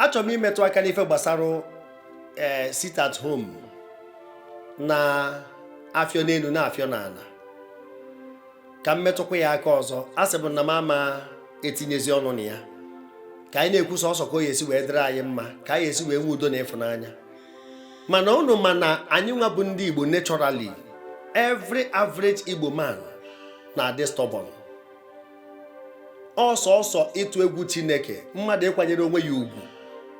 achọrọ m imetụ aka n'ife gbasara ee eh, sit at home na-afịọ n'elu na-afịọ n'ala ka m metụkwa ya aka ọzọ a sị bụ na m ama etinyezi ọnụ na ya ka anyị na-ekwu sọsọ ka ọ ya-esi wee dịrị anyị mma ka anyị esi wee nwee udo na ịfụnanya mana unu ma na anyị nwa bụ ndị Igbo naturally every average Igbo man na-adị stubborn ọ sọsọ ịtụ egwu Chineke mmadụ ịkwanyere onwe ya ugwu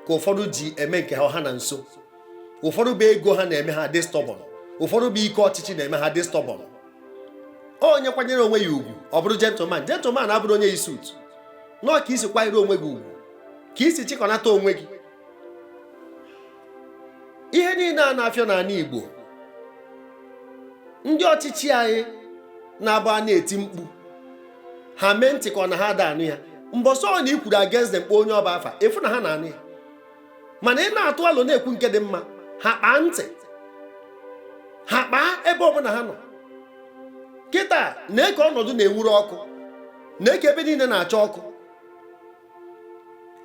ka ụfọdụ ji eme nke ha na nso ụfọdụ bụ ego ha na-eme ha dị stubborn ụfọdụ bụ ike ọchịchị na-eme ha dị stubborn onye kwanyere onwe ya ugwu ọ bụrụ gentleman gentleman abụrọ onye yi suit no ọ ka i si kwanyere onwe gị ugwu ka i si chịkọnata onwe gị ihe niile a na-afịọ n'ana Igbo ndị ọchịchị anyị na-abụ a na-eti mkpu ha mee ntị ka ọ na ha ada anụ ya mbọsị ọbụna i kwuru against them kpọọ onye ọ bụ afa ị fụ na ha na-anụ ya mana ị na-atụ alo na-ekwu nke dị mma ha kpaa ntị ha kpaa ebe ọbụna ha nọ kịta nee ka ọnọdụ na-enwuru ọkụ nee ka ebe niile na-acha ọkụ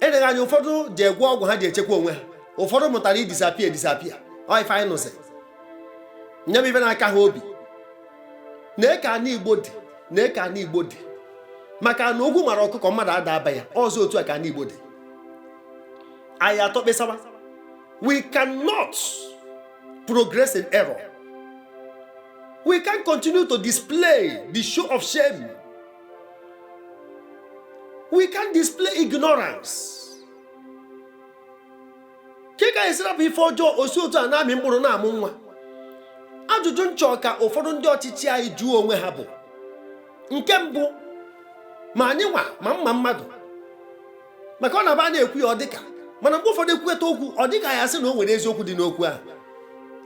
eleghị anya ụfọdụ jee gwọọ ọgwụ ha ji echekwa onwe ha ụfọdụ mụtara i-disappear e-disappear ọ ife anyị nụzi nye m ife na-aka ha obi nee ka ana Igbo dị nee ka ana Igbo dị maka na ogwu mara ọkụkọ mmadụ ada aba ya ọ zi otu a ka ana Igbo dị anyị atọ kpesaba we cannot progress in error we can't continue to display the show of shame we can't display ignorance kee ka anyị esi rapụ ife ọjọọ o si otu a na-amị mkpụrụ na-amụ nwa ajụjụ m chọ ka ụfọdụ ndị ọchịchị anyị jụọ onwe ha bụ nke mbụ ma anyị nwa ma mma mmadụ maka ọ na-abụ a na-ekwu ya ọ dịka mana mgbe ụfọdụ e kwueta okwu ọ dịka a ya-asị na o nwere eziokwu dị n'okwu ahụ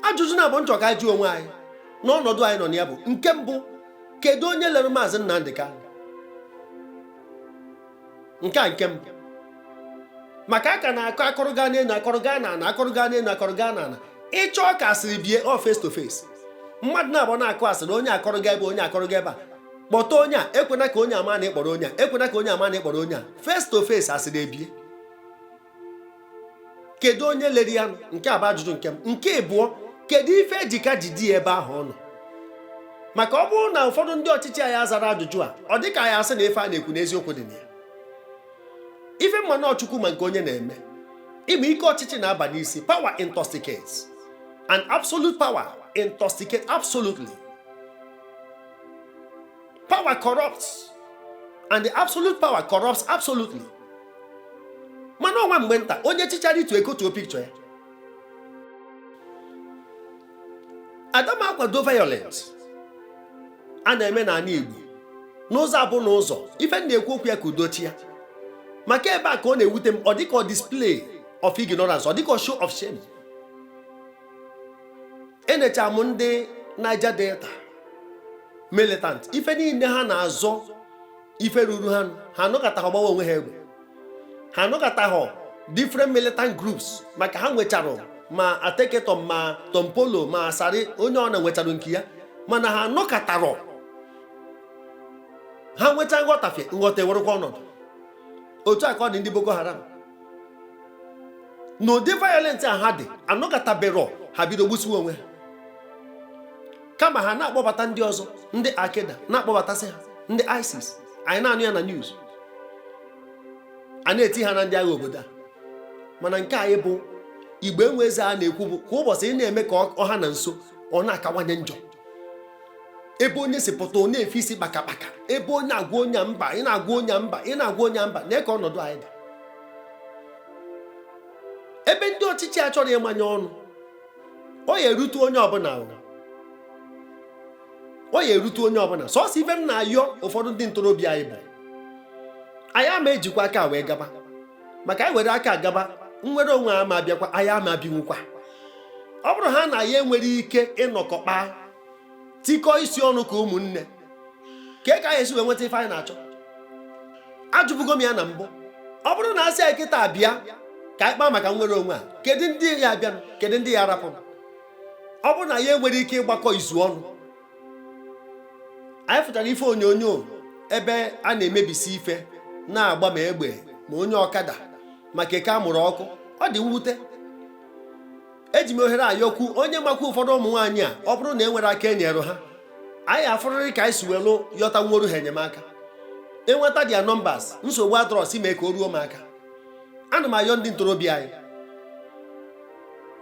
ajụjụ naabọ m chọ ka anyị jụọ onwe anyị n'ọnọdụ anyị nọ na ya bụ nke mbụ kedu onye lere maazị Nnamdị Kanu nke a nke mbụ maka a ka na-akọ a kọrọ gaa n'elu a kọrọ gaa n'ana a kọrọ gaa n'elu a kọrọ gaa n'ana ị chọọ ka asịrị bie ọ face to face mmadụ naabọ na-akọ asịrị onye akọrọ gaa ebe onye akọrọ gaa ebe a kpọta onye a ekwena ka onye ama na ị kpọrọ onye a ekwena ka onye ama na ị kpọrọ onye a face to face asịrị ebie kedu onye lere ya nke a bụ ajụjụ nke mbụ nke ịbụọ kedu ife e ji ka jide ya ebe ahụ ọ nọ maka ọ bụrụ na ụfọdụ ndị ọchịchị anyị azara ajụjụ a ọ dịka a ya-asị na ife a na-ekwu na eziokwu dị na ya ife m ma na ọ Chukwu ma nke onye na-eme ị ma ike ọchịchị na-aba n'isi power intoxicates and absolute power intoxicate absolutely Power corrupts. And the absolute power corrupts absolutely. Mana o nwe mgbe nta onye chịchara itu ekotuo picture ya. Ada m akwado violence a na-eme n'ala Igbo n'ụzọ abụ na ụzọ ife m na-ekwu okwu ya ka udo chịa maka ebe a ka ọ na-ewute m ọ dịka ọ display of ignorance ọ dịka ọ show of shame enecha m ndị Niger Delta militant ife niile ha na-azọ ife ruru ha ha anọkatahọ gbawa onwe ha egbe ha anọkatahọ different militant groups maka ha nwechara ma Ateke Tom ma Tompolo ma Asari onye ọbụna nwechara nke ya mana ha nọkatara ha nwecha nghọtafie nghọta ewerekwa ọnọdụ otu a ka ọ dị ndị Boko Haram na ụdị violent a ha dị anọkataberọ ha bido gbusiwe onwe ha kama ha na-akpọbata ndị ọzọ ndị Al-Qaeda na-akpọbatasị ha ndị ISIS anyị na-anụ ya na news a na-eti ha na ndị agha obodo a mana nke anyị bụ Igbo enwe eze a na-ekwu bụ kwa ụbọchị ị na-eme ka ọ ha na nso ọ na-akawanye njọ ebe onye si pụta ọ na-efe isi kpaka kpaka ebe onye agwa onye mba ị na-agwa onye mba ị na-agwa onye mba na ka ọnọdụ anyị dị ebe ndị ọchịchị a chọrọ ịmanye ọnụ ọ ya erute onye ọbụla ọ ya erute onye ọbụla sọsọ ife m na-ayọ ụfọdụ ndị ntorobịa anyị bụ anyị ama ejikwa aka a wee gaba maka anyị were aka a gaba nnwere onwe ama abịakwa anyị ama ebinwukwa ọ bụrụ ha na ya enwere ike ịnọkọ kpaa tikọọ isi ọnụ ka ụmụnne ka e ka anyị esi wee nweta ife anyị na-achọ ajụbugo m ya na mbụ ọ bụrụ na a sị anyị kịtaa bịa ka anyị kpaa maka nnwere onwe a kedu ndị ya abịanụ kedu ndị ya arapụ ọ bụrụ na ya enwere ike ịgbakọ izu ọnụ anyị fụchara ife onyonyo ebe a na-emebisi ife na-agba ma egbe ma onye ọkada ma keke a mụrụ ọkụ ọ dị mwute eji m ohere a yọkwu onye makwa ụfọdụ ụmụ nwaanyị a ọ bụrụ na e nwere aka enyere ha anyị afụrịrị ka anyị si welu yọtanworu ha enyemaka e nweta their numbers nsogbu adịrọ si mee ka o ruo m aka ana m ayọ ndị ntorobịa anyị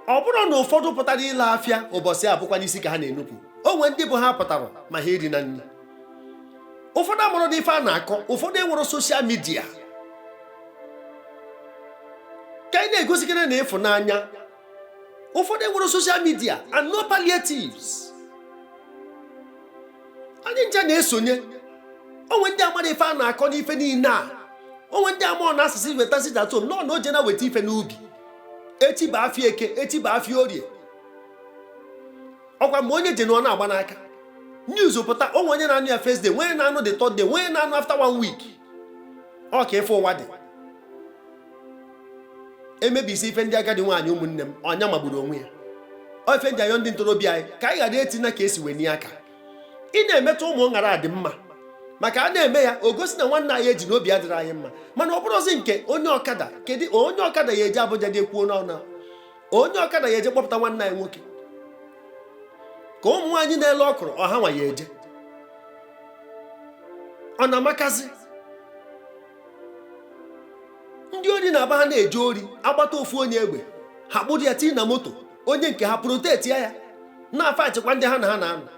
ọ bụrụ na ụfọdụ pụtara ile afịa ụbọchị abụkwanụ isi ka ha na-enupụ o nwe ndị bụ ha apụtarọ ma ha erina nri ụfọdụ amarọ n'ife a na-akọ ụfọdụ enwerọ social media ka anyị na-egosikere na ịfụnanya ụfọdụ enwerọ social media and no palliatives anyị ncha na-esonye o nwe ndị amarọ ife a na-akọ n'ife niile a o nwe ndị amarọ na a sị weta sit at home nọ na oje na weta ife n'ubi echi bụ afịa eke echi bụ afịa orie ọkwa mgbe onye jenụọ na-agba n'aka news pụta o nwe onye na-anụ ya first day onye na-anụ the third day onye na-anụ after one week ọ ka ife ụwa dị emebisi ife ndị agadi nwaanyị ụmụnne m ọnya magburu onwe ya ọ ife m ji ayọ ndị ntorobịa anyị ka anyị ghara eti na ka esi wee nye aka ị na-emetụ ụmụ gara adị mma maka a na-eme ya o gosi na nwanne anyị eji na obi adịrọ anyị mma mana ọ bụrụzi nke onye ọkada kedu onye ọkada ya eje abuja je ekwuo n'ọnụ onye ọkada ya eje kpọpụta nwanne anyị nwoke ka ụmụ nwaanyị na-ele ọkụrụ ọ ha nwa ya eje ọ na-amakazi ndị ori na-aba ha na-eje ori agbata ofu onye egbe ha kpụrụ ya tii na moto onye nke ha protect ya na-afa achịkwa ndị ha na ha na-anọ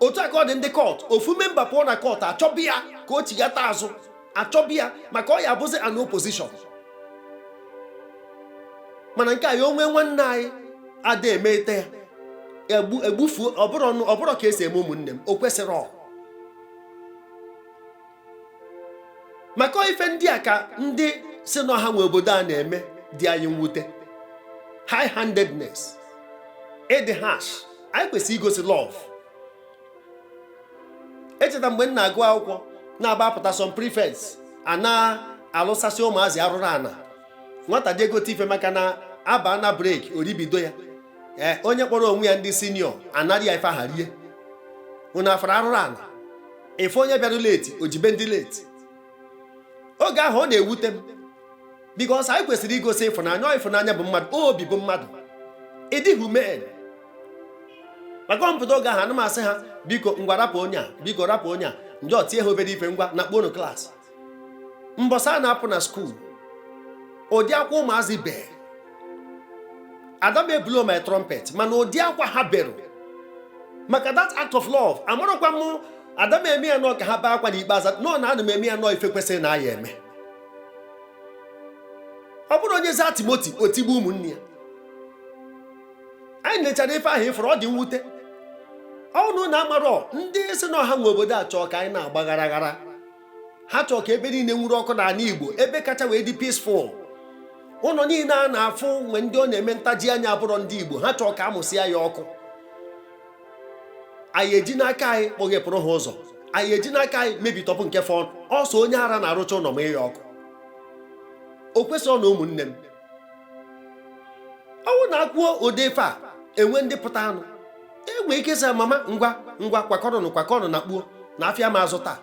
otu a ka ọ dị ndị cult ofu member pụọ na cult achọba ya ka o chighata azụ achọba ya maka ọ ya abụzi an opposition mana nke anyị o nwe nwanne anyị ada emete ya egbu egbufuo ọ bụrọ ka esi eme ụmụnne m o kwesịrọ maka ọ ife ndị a ka ndị sị na ọ ha nwe obodo a na-eme dị anyị mwute high handedness ịdị harsh anyị kwesịrị igosi love echeta mgbe m na-agụ akwụkwọ n'aba apụta some prefects a na-alụsasị ụmụazị arụrụ ana nwata je egote ife maka na aba na break o ribido ya ee eh, onye kpọrọ onwe ya ndị senior anara ya ife aha rie unu afụrọ arụrụ ana ife onye bịara late o jibe ndị late oge ahụ ọ na-ewute m because anyị kwesịrị igosi ịfụnanya ịfụnanya bụ mmadụ obi bụ mmadụ ịdị humane maka m pụta oge ahụ ana m asị ha biko ngwa rapụ onye a biko rapụ onye a m je tie ha obere ife ngwa nakpọọnụ class mbọsị a na-apụ na school ụdị akwa ụmụazị bee ada m eblow my trumpet mana ụdị akwa ha berụ maka that act of love amarọkwa m ada m eme ya na ọ ka ha bee akwa n'ikpeazụ no na ana m eme ya na ọ ife kwesịrị na a ya eme ọ bụrọ onye zaa timoti o tigbuo ụmụnne ya anyị nechara ife ahụ ịfụrụ ọ dị mwute ọ unu na amarọ ndị sị na ọ ha nwe obodo a chọọ ka anyị na-agba ghara ghara ha chọọ ka ebe niile nwuru ọkụ n'ana Igbo ebe kacha wee dị peaceful ụnọ niine a na-afụ nwe ndị ọ na-eme ntaji anya abụrọ ndị Igbo ha chọọ ka amụsịa ya ọkụ anyị eji n'aka anyị kpọghepụrụ ha ụzọ anyị eji n'aka anyị mebitọpụ nke fọnụ ọ sọ onye ara na-arụcha ụnọ mụa ya ọkụ o kwesịrọ na ụmụnne m ọ wụ na akwuo ụdị ife a enwe ndị pụtanụ enwe ike sị mama ngwa ngwa kwakọrọnụ kwakọrọnụ na kpuo na afịa ama azụ taa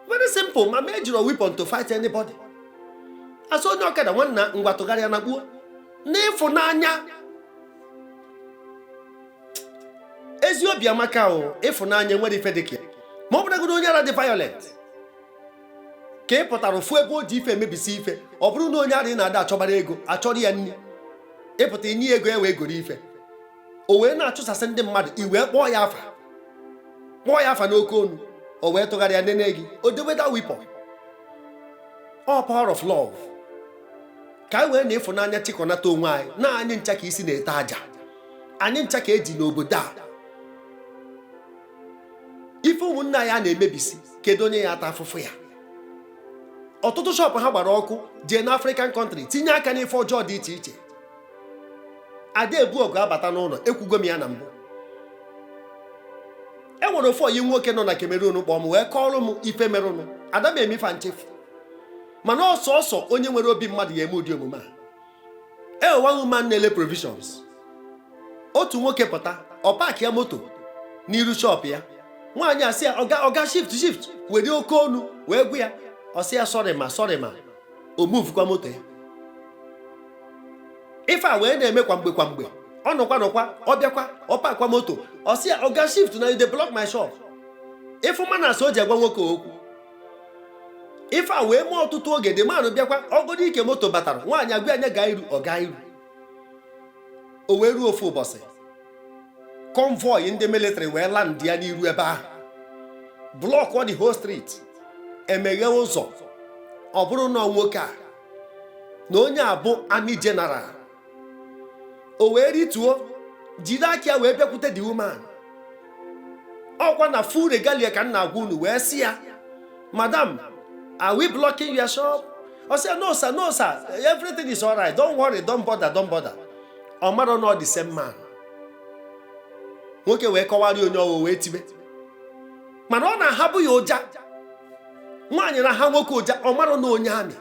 very simple mama ejiro weapon to fight anybody asị onye ọkada nwanna ngwa tụgharịa na kpuo n'ịfụnanya ezi obi amaka o ịfụnanya nwere ife dịka ya ma ọ bụrụgodị onye ara dị violent ka ị pụtara ofu ebe o ji ife emebisi ife ọ bụrụ na onye ara ị na-ada achọbara ego achọrọ ya nri ịpụta inye ego e wee goro ife o wee na-achụsasị ndị mmadụ i wee kpọọ ya afa kpọọ ya afa n'oke onu o wee tụgharịa nene gị o deweda weapon all power of love ka anyị wee na ịfụnanya chịkọnata onwe anyị na anyị ncha ka isi na-ete aja anyị ncha ka eji n'obodo a ife ụmụnne anyị a na-emebisi kedu onye ya-ata afụfụ ya ọtụtụ shop ha gbara ọkụ jee na African country tinye aka n'ife ọjọọ dị iche iche ada ebu ọgụ abata n'ụlọ ekwugo m ya na mbụ e nwere ofu ọyị nwoke nọ na Cameroon kpọọ m wee kọọrọ m ife merụnụ ada m eme fa nchefu mana ọ sọsọ onye nwere obi mmadụ ya-eme ụdị omume a e nwe one woman na-ele provisions otu nwoke pụta ọ park ya moto n'iru shop ya nwaanyị asị ya oga oga shift shift were oke onu wee gwa ya ọ sị ya sorry ma sorry ma o muvukwa moto ya ife a wee na-eme kwa mgbe kwa mgbe ọ nọkwa nọkwa ọ bịakwa ọ pakwa moto ọ sị ya oga shift na you dey block my shop ịfụ manners o ji agwa nwoke okwu ife a wee mee ọtụtụ oge the man ahụ bịakwa ọgọdọ ike moto batara nwaanyị agwa ya gaa iru ọ gaa iru o wee ruo ofu ụbọchị convoy ndị military wee landịa n'iru ebe ahụ blockuo the whole street emeghe ụzọ ọ bụrụ na ọ nwoke a na onye a bụ army general o wee rituo jiri aka ya wee bịakwute the woman ọkwa na full regalia ka m na-agwa unu wee sị ya madam are we blocking your shop ọ sị ya no sir no sir everything is alright don't worry don't bother don't bother ọ mara na ọ the same man nwoke wee kọwara ya onye ọ wụ wee tibe mana ọ na-ahabu ya ụja nwaanyị na-aha nwoke ụja ọ mara na onye army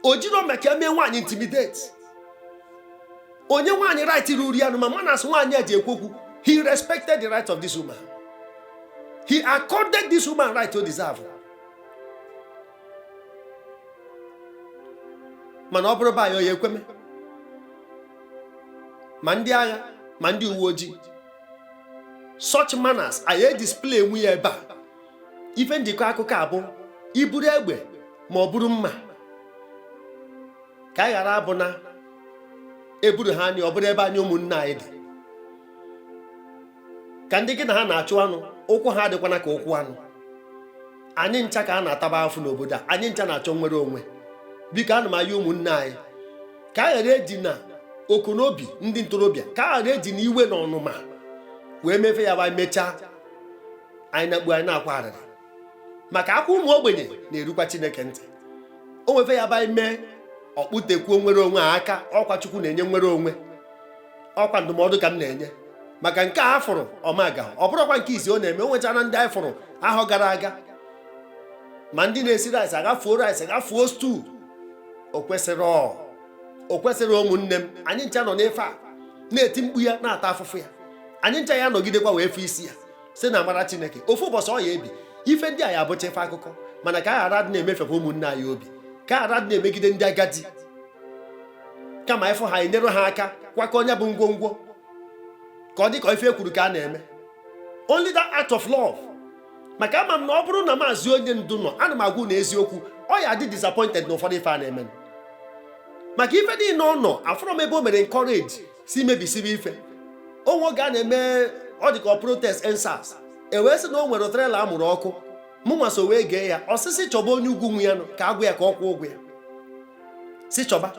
o jiro maka emee nwaanyị intimidate o nye nwaanyị right ruru ya ma manners nwaanyị a ji ekwu okwu he respected the right of this woman he accorded this woman right ọ deserve mana ọ bụrụ be anyị ọ ya-ekwe mee ma ndị agha ma ndị uwe ojii such manners a ya-edisplaynwu ya ebe a ife m ji kọ akụkọ a bụ iburu egbe ma o buru mma ka anyị ghara abụ na eburu ha anyị ọ bụrụ ebe anyị ụmụnne anyị dị ka ndị gị na ha na-achụ anụ ụkwụ ha adịkwana ka ụkwụ anụ anyị ncha ka a na-ataba afụfụ n'obodo a anyị ncha na-achọ nwere onwe biko ana m ayọ ụmụnne anyị ka a ghara ejina ọkụ n'obi ndị ntorobịa ka a ghara ejina iwe na ọnụma wee mee ife ya-abụ e mechaa anyị na-agbu anyị na-akwa arịrị maka akwa ụmụ ogbenye na-erukwa chineke ntị o nwee ife ya-abụ anyị mee ọ kpụtekwuo nwere onwe a aka ọkwa chukwu na-enye nwere onwe ọkwa ndụmọdụ ka m na-enye maka nke a fụrụ ọmaga ọ bụrọkwa nke izizi ọ na-eme o nwechara ndị anyị fụrụ ahọ gara aga ma ndị na-esi rice agafuo rice agafuo stew o kwesirọ o kwesirọ ụmụnne m anyị ncha nọ n'ife a na-eti mkpu ya na-ata afụfụ ya anyị ncha ya-anọgidekwa wee fụ isi ya si na amara chineke ofu ụbọchị ọ ya-ebi ife ndị a ya abụcha ife akụkọ mana ka a ghara dị na-emefekwa ụmụnne anyị obi ka a ghara dị na-emegide ndị agadi kama ịfụ ha enyere ha aka kwakọ onye bu ngwongwo ka ọ dị ka ife e kwuru ka a na-eme only that act of love maka ama m na ọ bụrụ na maazị onye ndu nọ ana m agwa unu eziokwu ọ ya-adị disappointed na ụfọdụ ife a na-eme maka ife niile ọ nọ afụrọ m ebe o mere encourage si mebisibe ife o nwe oge a na-eme ọ dị ka protest endsars e wee sị na o nwere trela a mụrụ ọkụ mụ nwa so wee gee ya ọ sị sị chọba onye ugwu nwe ya nụ ka a gwa ya ka ọ kwụọ ụgwọ ya si chọba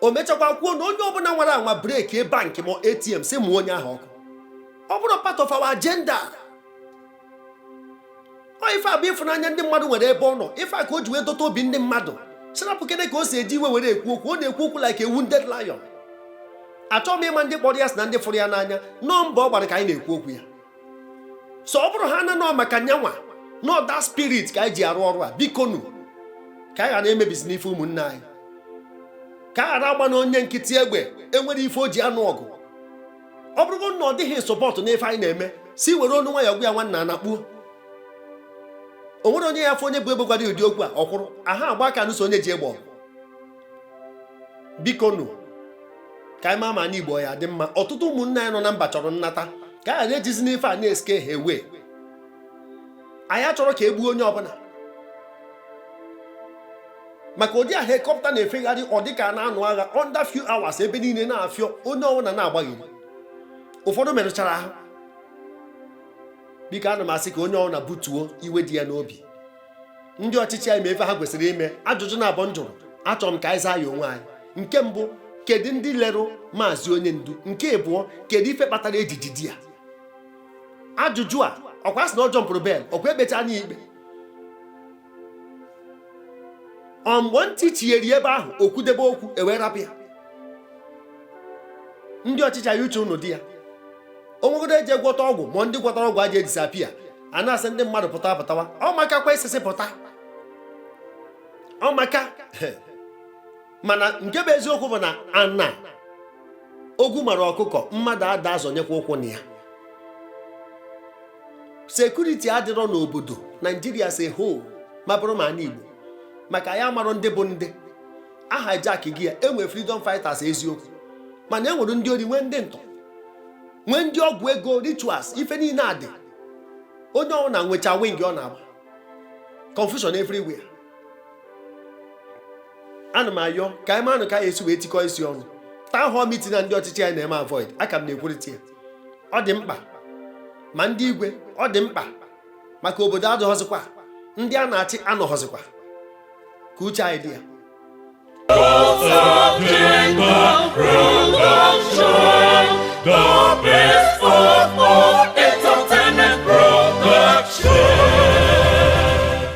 o mechakwa kwuo na onye ọbụla nwara anwa breki bankị ma atm si mụọ onye ahụ ọkụ ọ bụrọ part of our agenda ọ ife a bụ ịfụnanya ndị mmadụ nwere ebe ọ nọ ife a ka o ji wee dọta obi ndị mmadụ sị rapụkene ka o si eji iwe were ekwu okwu ọ na-ekwu okwu like a wounded lion achọghị m ịma ndị kpọrọ ya asị na ndị fụrụ ya n'anya na ọ mbọ ọ gbara ka anyị na-ekwu okwu ya so ọ bụrụ ha na nọ maka nya nwa na ọ that spirit ka anyị ji arụ ọrụ a biko nu ka anyị ghara emebisina ife ụmụnne anyị ka a ghara agbana onye nkịtị egbe enwerọ ife o ji anụ ọgụ ọ bụrụgo na ọ dịghị support n'ife anyị na-eme si were onu nwayọ gwa ya nwanna anakpuo o nwerọ onye ya-afụ onye bu egbe gwara ụdị okwu a o kwuru aha agba aka anụso onye ji egbe ọgụ biko nụ ka anyị maa ma anị igbo ya-adị mma ọtụtụ ụmụnne anyị nọ na mba chọrọ nnata ka a ghara ejizina ife a na-escare ha away anyị achọrọ ka e gbuo onye ọbụla maka ụdị a helikọpta na-efegharị ọ dị ka a na-anụ agha under few hours ebe niile na-afịọ onye ọbụla na-agbagharị ụfọdụ merụchara ahụ biko ana m asị ka onye ọbụla butuo iwe dị ya n'obi ndị ọchịchị anyị ma ife ha kwesịrị ime ajụjụ naabọ m jụrụ achọrọ m ka anyị zaa ya onwe anyị nke mbụ kedu ndị lerụ maazị onye ndu nke abụọ kedu ife kpatara eji jide ya ajụjụ a ọkwa a sị na ọ jọmpụrụ bail ọkwa ekpechaana ya ikpe ọ mgbe ntị chigheri ebe ahụ o kwudebe okwu ewee rapụ ya ndị ọchịchị anyị uche ụnụ dị ya onwegodo eji gwọta ọgwụ ma ndị gwọtara ọgwụ eji edisappear a na-asị ndị mmadụ pụtawa pụtawa ọ maka kwa isisi pụta ọ maka mana nke bụ eziokwu bụ na ana ogwu mara ọkụkọ mmadụ ada azọnyekwa ụkwụ na ya sekuriti adịrọ n'obodo naijiria si ho ma bụrụ ma ana igbo maka anyị amarọ ndị bụ ndị a hijackgo ya enwe freedom fighters eziokwu mana e nwere ndị ori nwee ndị ntọ nwee ndị ọgwụ ego rituals ife niile adị onye ọbụla nwecha wing ọ na-agba confusion everywhere ana m ayọ ka anyị manụ ka anyị esi wee tikọọ isi ọnụ town hall meeting na ndị ọchịchị anyị na-eme avoid aka m na-ekwurịta ya ọ dị mkpa ma ndị igwe ọ dị mkpa maka obodo adịghọzikwa ndị a na-achị anọghọzikwa ka uche anyị dị ya